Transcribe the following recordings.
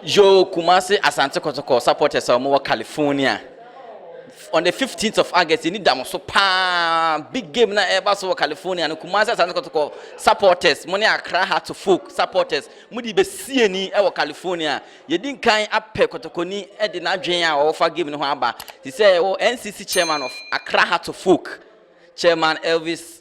Yo Kumasi Asante Kotoko supporters a wɔwɔ California. On the 15th of August, yɛni da mo so paa. Big game na ɛba so wɔ California no. Kumasi Asante Kotoko supporters, mo ne Accra Heart to Folk supporters, mo de bɛsie ni wɔ California. Yɛdi nkan apɛ Kotokoni de n'adwene a ɔwɔfa game no ho aba. Te sɛ ɛwɔ NCC chairman of Accra Heart to Folk, Chairman Elvis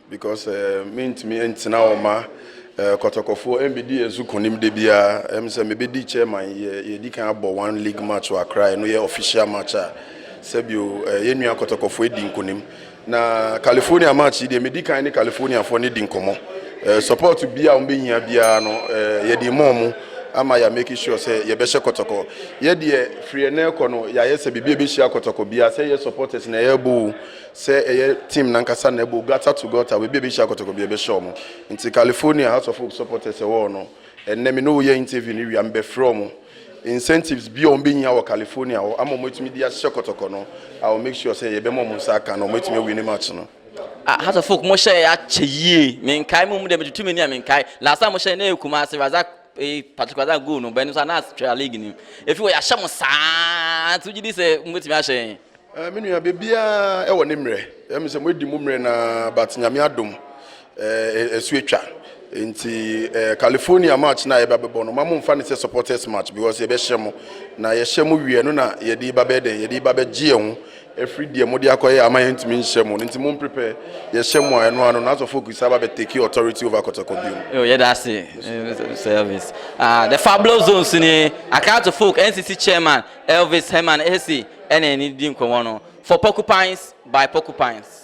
Because mentumi ntena hɔ ma kɔtɔkɔfoɔ mbedi yɛn so kunim da biara. Ɛm sɛ mebedi chairman yɛ yɛdi kan abɔ one league match wɔ Accra ɛno yɛ official match a sɛbio yɛn nua kɔtɔkɔfoɔ edi nkunim na California match yi deɛ medi kan ne Californiafoɔ no di nkɔmɔ support biara wɔn behia biara no yɛde ma wɔn ama yɛ make sure sɛ yɛbɛhyɛ kɔtɔkɔ yɛ deɛ firi ɛnɛ kɔ no yɛayɛ sɛ biribi ebehyia kɔtɔkɔ biara sɛ yɛ supporters na yɛbɔ o Sɛ ɛyɛ team no ankasa na ɛbɔ gutter to gutter baabi a ɛbɛhyia kɔtɔkɔ biara ɛbɛhyɛ wɔn. Nti California House of Hope supporters ɛwɔ hɔ no, ɛnnɛ me ne wo yɛ interview no wie a, mebɛfrɛ wɔn. Incentives bi a wɔbɛnya wɔ California hɔ ama wɔatumi de ahyɛ kɔtɔkɔ no, I will make sure sɛ yɛbɛma wɔn nsa aka na wɔatumi awini match no. Ah House of Folk mo hyɛɛ akyɛ yie menkae mo mu deɛ metutu m'ani a menkae last time mo hyɛɛ na ɛyɛ Kumasi Razak eh, particular that goal no bɛn nso anaa twɛ league ni efi wɔ yɛahyɛ mo saa ti gyi di sɛ mo betumi ahyɛ yɛn. Eh, me nua bebiara ɛwɔ ne mmerɛ ɛmi eh, sɛ mo edi mo mmerɛ na but nyame adom eh, ɛso eh, atwa nti eh, California match na yɛba bɛbɔ no ma mo nfa ne sɛ supporters match because yɛbɛhyɛ mo na yɛhyɛ mo wie no na yɛde ba bɛyɛ dɛn yɛde ba bɛgye yɛn ho Ɛfiri deɛ mode akɔyɛ ama yɛn ntumi nhyɛ mo no nti mo mprepɛ yɛhyɛ mo a ɛno ara no na asɔfoɔ kusa aba bɛ take authority over kɔtɛkɔ bio. Yo yɛda ase service ah the fabulous zone so nie Akrato folk NCC chairman Elvis Herman Ese ɛna ɛne di nkɔmɔ no for porcupines by porcupines.